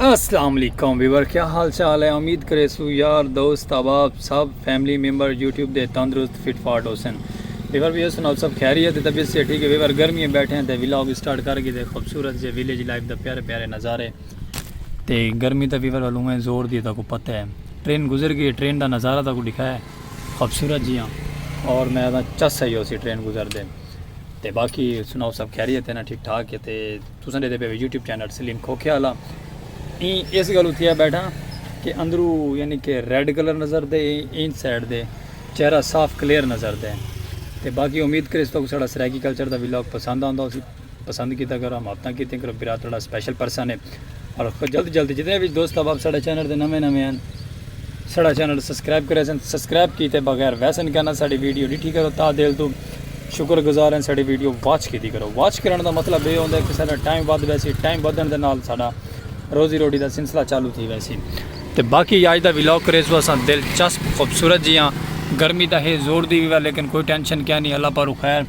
السلام علیکم ویور کیا حال چال ہے امید کرے سو یار دوست احباب سب فیملی ممبر یوٹیوب دے تندرست فٹ فاٹ ہوسن ویور بھی ہوسن آپ سب خیریت ہے طبیعت سے ٹھیک ہے ویور گرمی ہے بیٹھے ہیں تے ولاگ سٹارٹ کر کے دے خوبصورت جے ویلیج لائف دا پیارے پیارے نظارے تے گرمی تا ویور والوں میں زور دیتا کو پتہ ہے ٹرین گزر گئی ٹرین دا نظارہ تا کو دکھایا ہے خوبصورت جی ہاں اور میں چس ہے ہو سی ٹرین گزر دے تے باقی سناؤ سب خیریت ہے نا ٹھیک ٹھاک ہے تے تساں ڈیدے پے ہو یوٹیوب چینل سلیم کھوکھے آلا ایں اس گل اتھیا بیٹھا کہ اندرو یعنی کہ ریڈ کلر نظر دے این سائیڈ دے چہرہ صاف کلیئر نظر دے تے باقی امید کرے اس تو سڑا سرائیکی کلچر دا ویلاگ پسند آندا اسی پسند کیتا کرو ہم اپنا کیتے کرو برا تڑا سپیشل پرسن ہے اور جلد جلد جتنے بھی دوست احباب سڑا چینل دے نویں نویں ہیں سڑا چینل سبسکرائب کرے سن سبسکرائب کیتے بغیر ویسن کہنا ساڑی ویڈیو ڈٹھی کرو تا دل تو شکر گزار ہیں ساڑی ویڈیو واچ کیتی کرو واچ کرن دا مطلب یہ ہوندے کہ ساڑا ٹائم ود ویسی ٹائم بدن دے نال ساڑا روزی روٹی دا سلسلہ چالو تھی ویسی تے باقی یاج دا ویلاگ کریزو اساں دلچسپ خوبصورت جیاں گرمی دا ہے زور دی ویوا لیکن کوئی ٹینشن کیا نہیں اللہ پارو خیر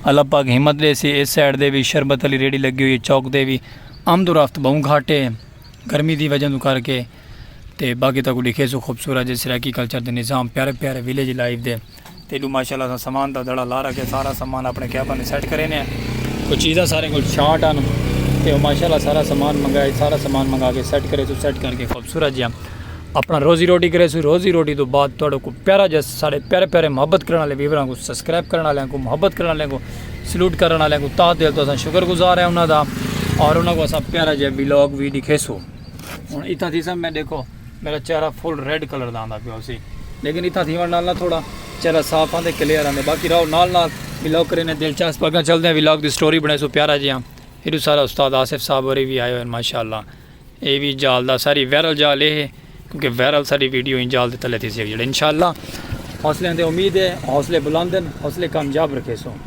اللہ پاک ہمت دے سی اس سائیڈ دے بھی شربت علی ریڈی لگی ہوئی ہے چوک دے بھی آمد و رفت بہوں گھاٹے گرمی دی وجہ تو کر کے تے باقی تک لکھے سو خوبصورت جیسے ریکی کلچر دے نظام پیارے پیارے ویلیج لائف دے تیڈو ماشاءاللہ اساں سامان دا دڑا لا رکھیا سارا سامان اپنے کیبن وچ سیٹ کرینے آں کوئی چیزاں سارے کول شارٹ ہن تے او ماشاءاللہ سارا سامان منگائے سارا سامان منگا کے سیٹ کرے سوں سیٹ کر کے خوبصورت جیاں اپنا روزی روٹی کرے سوں روزی روٹی توں بعد تہاڈو کو پیارا جیاں ساڈے پیارے پیارے محبت کرن والے ویوراں کو سبسکرائب کرن والیاں کو محبت کرن والیاں کو سلوٹ کرن والیاں کو تہہ دل توں اساں شکر گزار ہیں انہاں دا اور انہاں کو اساں پیارا جیاں ولاگ وی ڈکھیسوں ہن اتھاں تھیساں میں ڈیکھو میڈا چہرہ فل ریڈ کلر دا آندا پیو سی لیکن اتھاں تھیون نال نہ تھوڑا چہرہ صاف آندے کلیئر آندے باقی راو نال نال ولاگ کرے نے دلچسپ اگاں چلدے ہیں ولاگ دی سٹوری بنے سو پیارا جی ہاں ایڈو سارا استاد آصف صاحب اور بھی آئے ہوئے ماشاءاللہ اے وی جال دا ساری ویرل جال اے ہے کیونکہ ویرل ساری ویڈیو ان جال دے تلے تھی سی جڑے انشاءاللہ حوصلے اندے امید ہے حوصلے بلند ہیں حوصلے کامیاب رکھے سو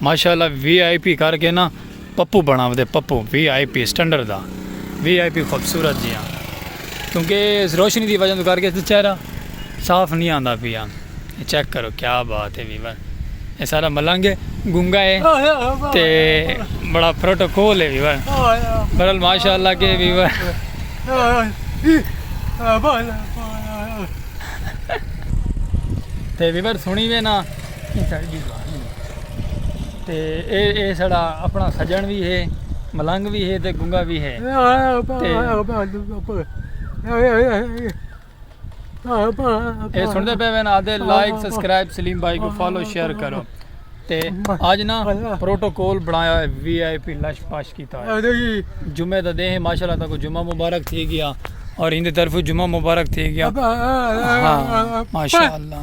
ماشاء اللہ وی آئی پی کر کے نا پپو بناو دے پپو وی آئی پی سٹنڈر دا وی آئی پی خوبصورت جی ہاں کیونکہ اس روشنی دی وجہ تو کر کے چہرہ صاف نہیں آندا پیا چیک کرو کیا بات ہے ویور یہ سارا ملنگ ہے گنگا ہے تے بڑا پروٹوکول ہے ویور برال ماشاء اللہ کے ویور تے ویور سنی وے نا تے اے اے سڑا اپنا سجن بھی ہے ملنگ بھی ہے تے گنگا بھی ہے اے سن دے پے وین آدھے لائک سبسکرائب سلیم بھائی کو فالو شیئر کرو تے آج نا پروٹوکول بنایا ہے وی آئی پی لش پاش کیتا ہے جمعہ دا دے ہیں ماشاءاللہ تاکو جمعہ مبارک تھی گیا اور ہندے طرف جمعہ مبارک تھی گیا ہاں ماشاءاللہ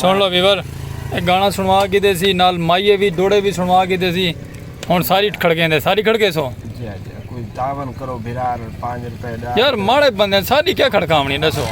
سن لو ویور اے گانا سنوا کی دے سی نال مائیے بھی دوڑے بھی سنوا کی دے سی ہن ساری کھڑکیں دے ساری کھڑکے سو جی جی کوئی تعاون کرو بھرار 5 روپے دا یار ماڑے بندے ساری کیا کھڑکاونی دسو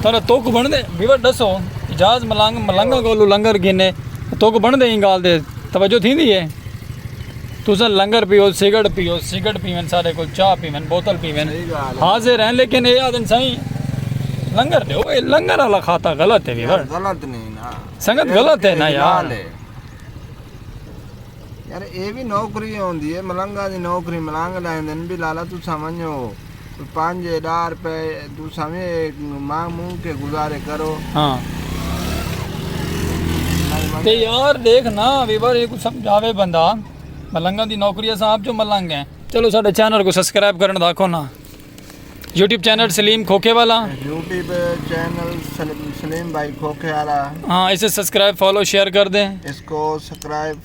تارا توک بن دے ویور دسو اجاز ملنگ ملنگ گولو لنگر گینے توک بن دے ہی گال دے توجہ تھی دی ہے تساں لنگر پیو، سگڑ پیو، سگڑ پیون، ساڈے کول چاہ پیون، بوتل پیون، حاضر ہیں لیکن اے آدھن سائیں لنگر دیو، اے لنگر آلا خاطہ غلط ہے ویور۔ غلط نہیں نا۔ سنگت غلط ہے نا یار۔ یار اے بھی نوکری ہوندی ہے، ملنگا دی نوکری ملنگ لائیں دن بھی لالا تساں ونجو۔ کوئی پنج ڈاہ روپے تساں وی مانگ مونگ کے گزارے کرو ہاں تے یار دیکھ نا ویور یہ کو سمجھاوے بندہ ملنگاں دی نوکری اساں آپ جو ملنگ ہیں چلو ساڈے چینل کو سبسکرائب کرن دا آکھو نا یوٹیوب چینل سلیم کھوکھے والا یوٹیوب چینل سلیم بھائی کھوکھے والا ہاں اسے سبسکرائب فالو شیئر کر دیں اس کو سبسکرائب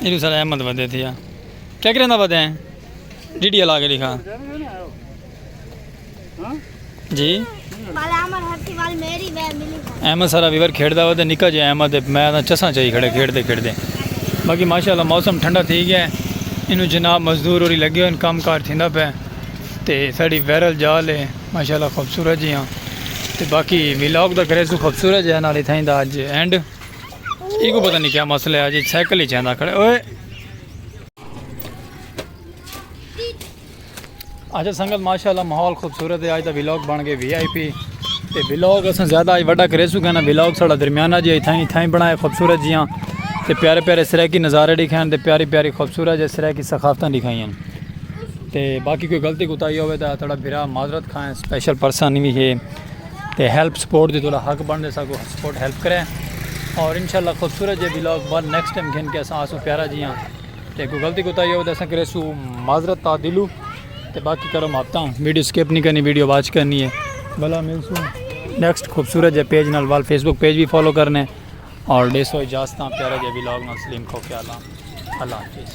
ایلو سر احمد ودے تھیا کیا کریں دا ودے ہیں ڈی ڈی علاقے لکھا جی احمد سارا ویور کھیڑ دا ودے نکا جی احمد میں دا چساں چاہی کھڑے کھیڑ دے کھیڑ دے باقی ماشاءاللہ موسم ٹھنڈا تھی گیا ہے انو جناب مزدور اور لگے ہوئے کام کار تھی دا پہ تے ساڑی ویرل جال ہے ماشاءاللہ خوبصورت جی ہاں تے باقی ویلاگ دا کریزو خوبصورت جی ہاں نالی تھا ہی دا آج اینڈ ایگو پتہ نہیں کیا مسئلہ ہے جی سائیکل ہی چاہتا کھڑے اوئے اچھا سنگت ماشاءاللہ ماحول خوبصورت ہے آج دا ویلوگ بن گئے وی آئی پی تے ویلوگ اساں زیادہ آج وڈا کرے سو کہنا ویلوگ ساڑا درمیانہ جی تھائیں تھائیں بنائے خوبصورت جیاں تے پیارے پیارے سریکی نظارے دکھائیں تے پیاری پیاری خوبصورت جی سریکی ثقافتاں دکھائیں تے باقی کوئی غلطی کوتاہی ہوئے تا تھوڑا بھرا معذرت کھائیں سپیشل پرسن بھی ہے تے ہیلپ سپورٹ دی تھوڑا حق بن دے ساکو سپورٹ ہیلپ کرے اور انشاءاللہ خوبصورت جے ویلاگ بار نیکسٹ ٹائم گھن کے اساں آسو پیارا جی ہاں تے کوئی غلطی کوتا ہی ہو تے اساں کرے سو معذرت تا دلو تے باقی کرو محبتہ ہوں ویڈیو سکپ نہیں کرنی ویڈیو واچ کرنی ہے بلا مل سو نیکسٹ خوبصورت جے پیج نال وال فیس بک پیج بھی فالو کرنے اور ڈے سو اجازتاں پیارا جے ویلاگ نال سلیم کھو کے اللہ اللہ حافظ